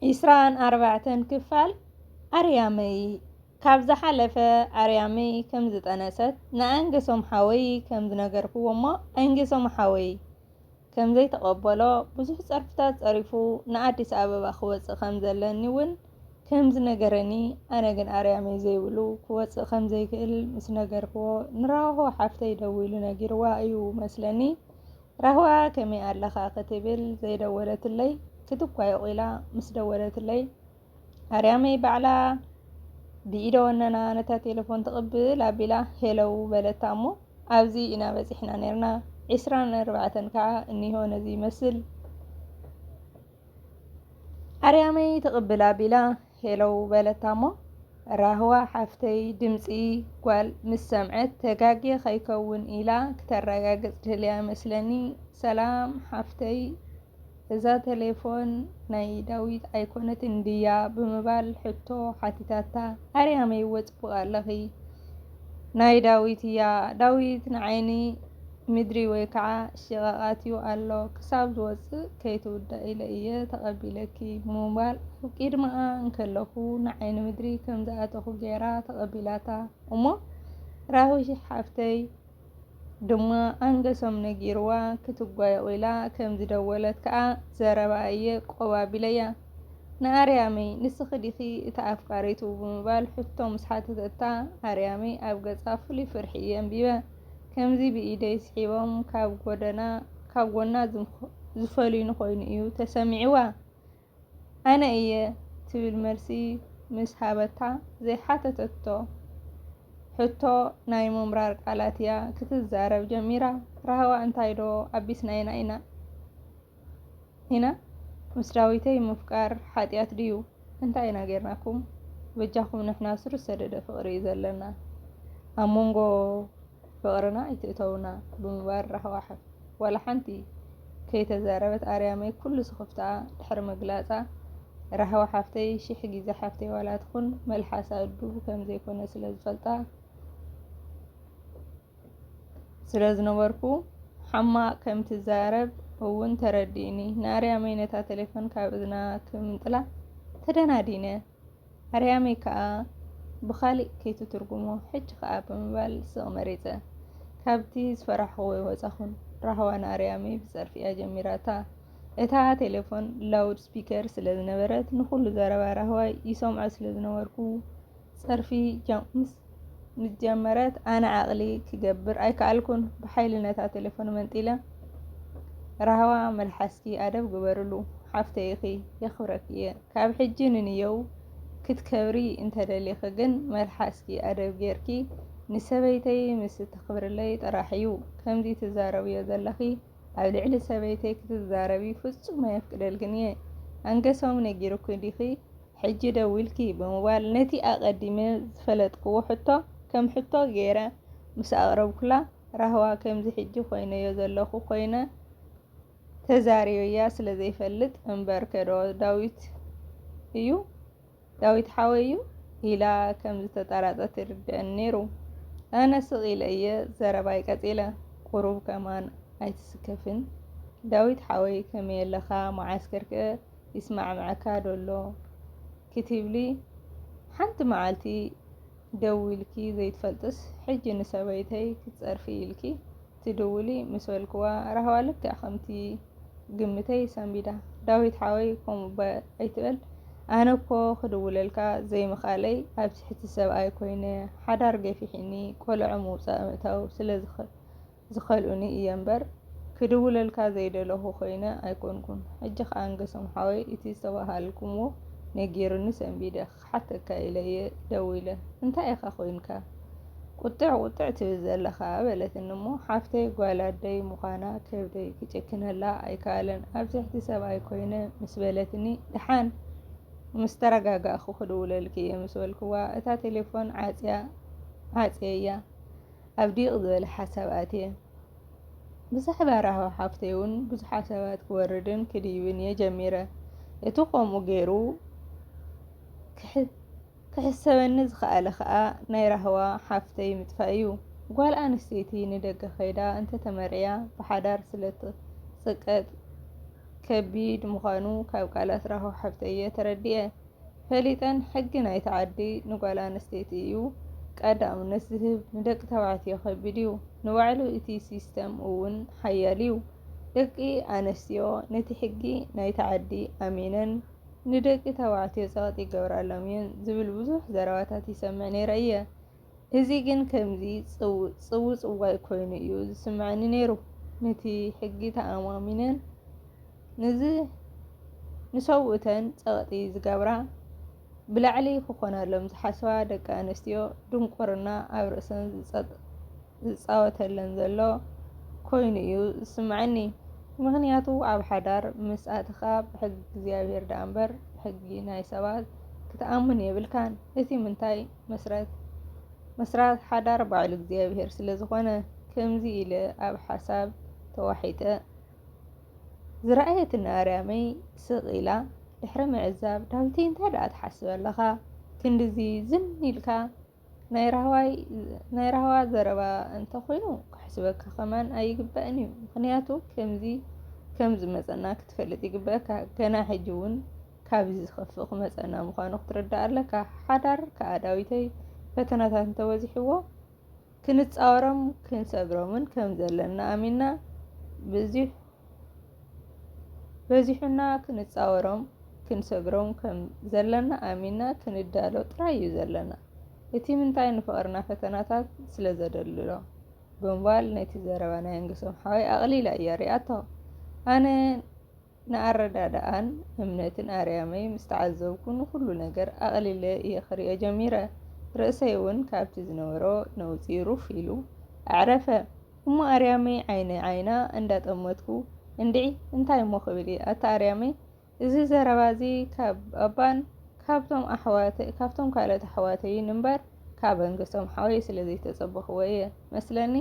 ዒስራን ኣርባዕተን ክፋል ኣርያመይ ካብ ዝሓለፈ ኣርያመይ ከም ዝጠነሰት ንኣንገሶም ሓወይ ከም ዝነገርክዎ እሞ ኣንገሶም ሓወይ ከም ዘይተቐበሎ ብዙሕ ጸርፍታት ጸሪፉ ንኣዲስ ኣበባ ክወጽእ ከም ዘለኒ እውን ከም ዝነገረኒ ኣነ ግን ኣርያመይ ዘይብሉ ክወጽእ ከም ዘይክእል ምስ ነገርክዎ ንራሆ ሓፍተይ ደዊሉ ነጊርዋ እዩ መስለኒ ራህዋ ከመይ ኣለኻ ክትብል ዘይደወለትለይ ክትኳየቑ ኢላ ምስ ደወለትለይ ኣርያመይ ባዕላ ብኢደ ወነና ነታ ቴሌፎን ትቕብል ኣቢላ ሄለው በለታ እሞ ኣብዚ ኢና በጺሕና ነርና ዒስራን ኣርባዕተን ከዓ እኒሆ ነዚ ይመስል ኣርያመይ ትቕብል ኣቢላ ሄሎው በለታ'ሞ፣ ራህዋ ሓፍተይ ድምጺ ጓል ምስ ሰምዐት ተጋግየ ከይከውን ኢላ ክተረጋግጽ ድልያ መስለኒ፣ ሰላም ሓፍተይ እዛ ተሌፎን ናይ ዳዊት ኣይኮነትን ድያ ብምባል ሕቶ ሓቲታታ፣ ኣርያመይዎ ጽቡቕ ኣለኺ ናይ ዳዊት እያ ዳዊት ንዓይኒ። ምድሪ ወይ ከዓ ሽቓቓት'ዩ ኣሎ ክሳብ ዝወጽእ ከይትውዳእ ኢለ እየ ተቐቢለኪ ብምባል ኣብ ቂድመኣ እንከለኹ ንዓይኒ ምድሪ ከም ዝኣተኹ ገይራ ተቐቢላታ እሞ ራዊ ሓፍተይ ድማ ኣንገሶም ነጊርዋ ክትጓየቑ ኢላ ከም ዝደወለት ከዓ ዘረባኣ እየ ቆብ ኣቢለያ ንኣርያመይ ንስኺ ዲኺ እታ ኣፍቃሪቱ ብምባል ሕቶ ምስ ሓተተታ ኣርያመይ ኣብ ገጻ ፍሉይ ፍርሒ እየ ኣንቢበ። ከምዚ ብኢደይ ስሒቦም ካብ ጎደና ካብ ጎና ዝፈልዩኒ ኮይኑ እዩ ተሰሚዕዋ። ኣነ እየ ትብል መልሲ ምስ ሃበታ ዘይሓተተቶ ሕቶ ናይ ምምራር ቃላት እያ ክትዛረብ ጀሚራ። ራህዋ እንታይ ዶ ኣቢስናይና ኢና? ኢና ምስ ዳዊተይ ምፍቃር ሓጥያት ድዩ እንታይ ኢና ጌርናኩም በጃኩም ንሕና ስር ዝሰደደ ፍቅሪ እዩ ዘለና ኣብ መንጎ ፍቅርና ኣይትእተውና ብምባል ራህዋ ዋላ ሓንቲ ከይተዛረበት ኣርያመይ ኩሉ ስኽፍታኣ ድሕሪ ምግላጻ ራህዋ ሓፍተይ ሽሕ ግዜ ሓፍተይ ዋላ ትኹን መልሓሳ እዱብ ከምዘይኮነ ስለ ዝፈልጣ ስለ ዝነበርኩ ሓማቕ ከም ትዛረብ እውን ተረዲኡኒ። ንኣርያመይ ነታ ተሌፎን ካብ እዝና ክምንጥላ ተደናዲነ፣ ኣርያመይ ከኣ ብኻሊእ ከይትትርጉሞ ሕጂ ከኣ ብምባል ስቕ መሪጸ። ካብቲ ዝፈራሕኹዎ ወጻኹን። ራህዋ ንኣርያመይ ብጸርፊ'ያ ጀሚራታ። እታ ተሌፎን ላውድ ስፒከር ስለ ዝነበረት ንኹሉ ዘረባ ራህዋይ ይሰምዖ ስለ ዝነበርኩ፣ ጸርፊ ጃም ምስ ምጀመረት ኣነ ዓቕሊ ክገብር ኣይከኣልኩን ብሓይሊ ነታ ቴለፎን መንጢለ ራህዋ መልሓስኪ ኣደብ ግበርሉ ሓፍተይ ኢኺ የኽብረኪ እየ ካብ ሕጂ ንንየው ክትከብሪ እንተደሊኺ ግን መልሓስኪ ኣደብ ጌርኪ ንሰበይተይ ምስ እተኽብርለይ ጥራሕ እዩ ከምዚ ትዛረብዮ ዘለኺ ኣብ ልዕሊ ሰበይተይ ክትዛረቢ ፍጹም ኣየፍቅደልክን እየ ኣንገሶም ነጊሩኪ ዲኺ ሕጂ ደዊልኪ ብምባል ነቲ ኣቐዲመ ዝፈለጥክዎ ሕቶ ከም ሕቶ ገይረ ምስ ኣቕረብኩላ፣ ራህዋ ከምዚ ሕጂ ኮይነዮ ዘለኹ ኮይነ ተዛርየያ ስለ ዘይፈልጥ እምበርከዶ ዳዊት እዩ ዳዊት ሓወይ እዩ ኢላ ከም ዝተጣራጸት ይርድእኒ ነይሩ። ኣነ ስቕ ኢለ እየ ዘረባይ ቀጺለ። ቁሩብ ከማን ኣይትስከፍን ዳዊት ሓወይ ከመይ ኣለኻ መዓስከር ከ ይስማዕምዓካ ዶ ኣሎ ክትብሊ ሓንቲ መዓልቲ ደዊልኪ ዘይትፈልጥስ ሕጂ ንሰበይተይ ክትጸርፊ ኢልኪ ትድውሊ ምስ በልክዋ ራህዋ ልክዕ ከምቲ ግምተይ ሰንቢዳ ዳዊት ሓወይ ከምኡ እባ ኣይትበል ኣነ እኮ ክድውለልካ ዘይምኽኣለይ ኣብ ትሕቲ ሰብኣይ ኮይነ ሓዳር ገፊሒኒ ቆልዑ ምውጻእ ምእታው ስለ ዝኸልኡኒ እየ እምበር ክድውለልካ ዘይደለኹ ኮይነ ኣይኮንኩን ሕጂ ከኣ ኣንገሶም ሓወይ እቲ ዝተባሃልኩምዎ ነጊሩኒ ሰንቢደ ክሓተካ ኢለ እየ ደዊለ እንታይ ኢኻ ኮይንካ ቁጥዕ ቁጥዕ ትብል ዘለኻ በለትኒ እሞ ሓፍተይ ጓል ኣደይ ምዃና ከብደይ ክጭክነላ ኣይከኣለን ኣብ ትሕቲ ሰብኣይ ኮይነ ምስ በለትኒ ደሓን ምስ ተረጋጋእኩ ክድውለልኪ እየ ምስ በልክዋ እታ ቴሌፎን ዓጽያ ዓጽየያ ኣብ ዲቕ ዝበለ ሓሳብ ኣትየ። ብዛዕባ ራህዋ ሓፍተይ እውን ብዙሕ ሓሳባት ክወርድን ክድይብን እየ ጀሚረ። እቲ ከምኡ ገይሩ ክሕሰበኒ ዝኸኣለ ከኣ ናይ ራህዋ ሓፍተይ ምጥፋእ እዩ። ጓል ኣንስተይቲ ንደገ ከይዳ እንተተመርዕያ ብሓዳር ስለትጽቀጥ ከቢድ ምዃኑ ካብ ቃላት ራህዋ ሓፍተይ እየ ተረዲኤ። ፈሊጠን ሕጊ ናይቲ ዓዲ ንጓል ኣንስተይቲ እዩ ቀዳምነት ዝህብ ንደቂ ተባዕትዮ ከቢድ እዩ ንባዕሉ እቲ ሲስተም እውን ሓያል እዩ ደቂ ኣንስትዮ ነቲ ሕጊ ናይቲ ዓዲ ኣሚነን ንደቂ ተባዕትዮ ጸቕጢ ይገብራሎም እየን ዝብል ብዙሕ ዘረባታት ይሰምዕ ነይረ እየ እዚ ግን ከምዚ ጽውጽዋይ ኮይኑ እዩ ዝስምዐኒ ነይሩ። ነቲ ሕጊ ተኣማሚነን ንሰብኡተን ጸቕጢ ዝገብራ፣ ብላዕሊ ክኾናሎም ዝሓስባ ደቂ ኣንስትዮ ድንቁርና ኣብ ርእሰን ዝጻወተለን ዘሎ ኮይኑ እዩ ዝስምዐኒ። ምኽንያቱ ኣብ ሓዳር ምስ ኣተኻ ብሕጊ እግዚኣብሄር ደኣምበር ብሕጊ ናይ ሰባት ክትኣምን የብልካን። እቲ ምንታይ? መስራት ሓዳር ባዕሉ እግዚኣብሔር ስለዝኾነ ከምዚ ኢለ ኣብ ሓሳብ ተዋሒጠ ዝረኣየትኒ ኣርያመይ ስቕ ኢላ ድሕሪ ምዕዛብ ዳዊተይ እንታይ ደኣ ትሓስብ ኣለኻ ክንድዚ ዝን ኢልካ ናይ ራህዋ ዘረባ እንተኾይኑ ክሕስበካ ከማን ኣይግባእን እዩ። ምክንያቱ ከምዚ ከም ዝመፀና ክትፈልጥ ይግበእካ ገና ሕጂ እውን ካብዚ ዝኸፍእ ክመጸና ምዃኑ ክትርዳእ ኣለካ። ሓዳር ከኣ ዳዊተይ ፈተናታት እንተበዚሕዎ ክንጻወሮም ክንሰብሮምን ከም ዘለና ኣሚንና ብዙሕ በዚሑና ክንጻወሮም ክንሰብሮም ከም ዘለና ኣሚና ክንዳሎ ጥራይ እዩ ዘለና እቲ ምንታይ ንፍቕርና ፈተናታት ስለ ዘደልሎ ብምባል ነቲ ዘረባ ናይ ኣንግሶም ሓወይ ኣቕሊላ እያ ሪኣቶ ኣነ ንኣረዳድኣን እምነትን ኣርያመይ ምስ ተዓዘብኩ ንኹሉ ነገር ኣቕሊለ እየ ክርእዮ ጀሚረ። ርእሰይ እውን ካብቲ ዝነበሮ ነውጺ ሩፍ ኢሉ ኣዕረፈ። እሞ ኣርያመይ ዓይኒ ዓይና እንዳጠመትኩ እንድዒ እንታይ እሞ ክብል እየ ኣታ ኣርያመይ እዚ ዘረባ እዚ ካብ ባባን ካብቶም ካልኦት ኣሕዋተይን እምበር ካብ ኣንገሶም ሓወይ ስለ ዘይተጸበኽዎ እየ መስለኒ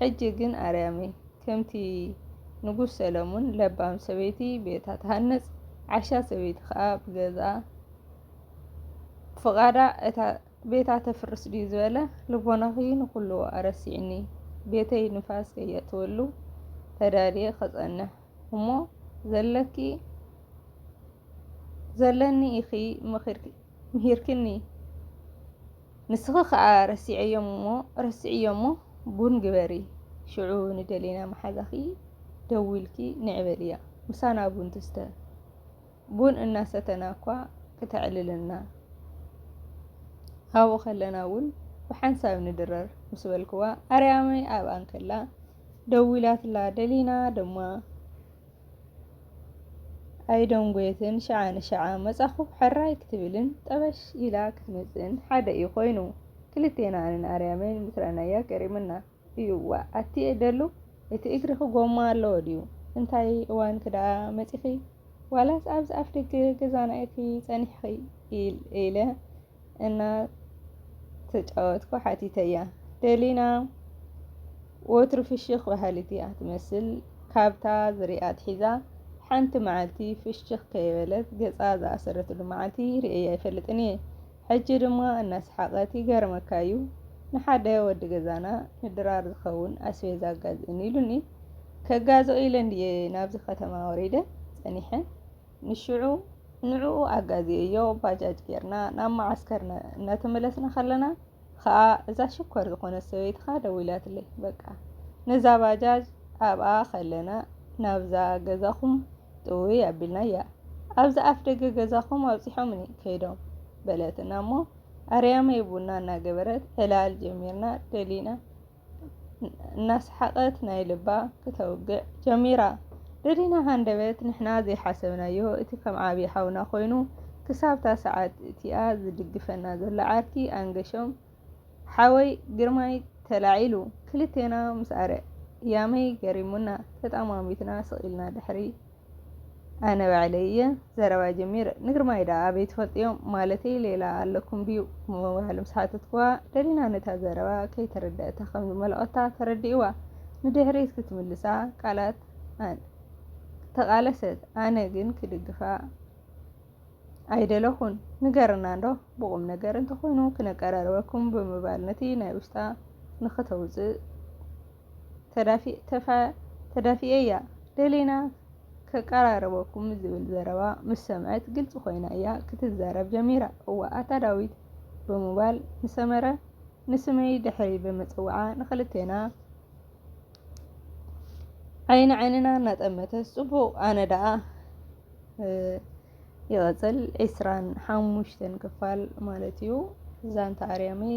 ሕጂ ግን ኣርያመይ ከምቲ ንጉስ ሰለሙን ለባም ሰበይቲ ቤታ ትሃንጽ ዓሻ ሰበይቲ ከኣ ብገዛኣ ብፍቓዳ እታ ቤታ ተፍርስ ድዩ ዝበለ ልቦናኺ ንኹሉ ኣረሲዕኒ ቤተይ ንፋስ ከየእትወሉ ተዳልየ ከጸንሕ እሞ ዘለኪ ዘለኒ ኢኺ ምሂርክኒ ንስኺ ከኣ ረሲዐዮም'ሞ ረስዕዮ'ሞ ቡን ግበሪ ሽዑ ንደሊና መሓዛኺ ደዊልኪ ንዒ በልያ ምሳና ቡን ትስተ ቡን እናሰተና'ኳ ክተዕልለና ኣብኡ ከለና'ውን ብሓንሳብ ንድረር ምስ በልክዋ ኣርያመይ ኣብኣ እንከላ ደዊላትላ ደሊና ድማ ኣይደንጐየትን፣ ሽዓ ንሽዓ መጻኹ ሕራይ ክትብልን ጠበሽ ኢላ ክትመጽእን ሓደ እዩ ኮይኑ። ክልቴና ኣነን ኣርያምን ምስ ረኣናያ ገሪሙና እዩ ዋእ ኣቲየ ደሉ እቲ እግርኺ ጎማ ኣለዎ ድዩ እንታይ እዋንኪ ደኣ መጺኺ ዋላስ ኣብዚ ኣፍደገ ገዛና ኢኺ ጸኒሕኺ ኢለ እናተጫወትኩ ሓቲተያ። ደሊና ወትሩ ፍሽኽ በሃሊት እያ ትመስል። ካብታ ዝሪኣ ኣትሒዛ ሓንቲ መዓልቲ ፍሽኽ ከይበለት ገፃ ዝኣሰረትሉ መዓልቲ ሪኤያ ኣይፈልጥን እየ። ሕጂ ድማ እናሰሓቐት ይገርመካ እዩ ንሓደ ወዲ ገዛና ንድራር ዝኸውን ኣስቤዛ ኣጋዝእኒ ኢሉኒ። ከጋዝኦ ኢለ እንድየ ናብዚ ከተማ ወሪደ ፀኒሐ። ንሽዑ ንዕኡ ኣጋዝየዮ ባጃጅ ጌርና ናብ መዓስከርና እናተመለስና ከለና ኸኣ እዛ ሽኮር ዝኾነት ሰበይትኻ ደዊላትለይ በቃ ነዛ ባጃጅ ኣብኣ ከለና ናብዛ ገዛኹም ጥውይ ኣቢልናያ ኣብዚ ኣፍ ደገ ገዛኹም ኣብፂሖምኒ ከይዶም በለትና እሞ ኣርያመይ ቡና እናገበረት ዕላል ጀሚርና ደሊና እናሰሓቐት ናይ ልባ ክተውግዕ ጀሚራ። ደዲና ሃንደበት ንሕና ዘይሓሰብናዮ እቲ ከም ዓቢ ሓውና ኮይኑ ክሳብ'ታ ሰዓት እቲኣ ዝድግፈና ዘሎ ዓርኪ ኣንገሾም ሓወይ ግርማይ ተላዒሉ ክልቴና ምስኣረያመይ ገሪሙና ተጠማሚትና ስቕ ኢልና ድሕሪ ኣነ ባዕለይ እየ ዘረባ ጀሚረ ንግርማይ ደኣ ኣበይ ትፈልጥዮም ማለተይ ሌላ ኣለኩም ድዩ ብምባል ምስ ሓተትክዋ ደሊና ነታ ዘረባ ከይተረደእታ ከም ዝመለቐታ ተረዲእዋ ንድሕሪት ክትምልሳ ቃላት ኣን ተቓለሰት ኣነ ግን ክድግፋ ኣይደለኹን ንገርና እንዶ ብቑም ነገር እንተኾይኑ ክነቀራርበኩም ብምባል ነቲ ናይ ውሽጣ ንክተውፅእ ተዳፊኤ'ያ ደሊና ከቀራርበኩም ዝብል ዘረባ ምስ ሰምዐት ግልፂ ኮይና'ያ ክትዛረብ ጀሚራ። እዋእ ኣታ ዳዊት ብምባል ንሰመረ ንስመይ ድሕሪ ምፅዋዓ ንኽልቴና ዓይኒ ዓይንና እናጠመተት ፅቡቕ ኣነ ደኣ ይቕፅል ዒስራን ሓሙሽተን ክፋል ማለት እዩ ዛንታ ኣርያመይ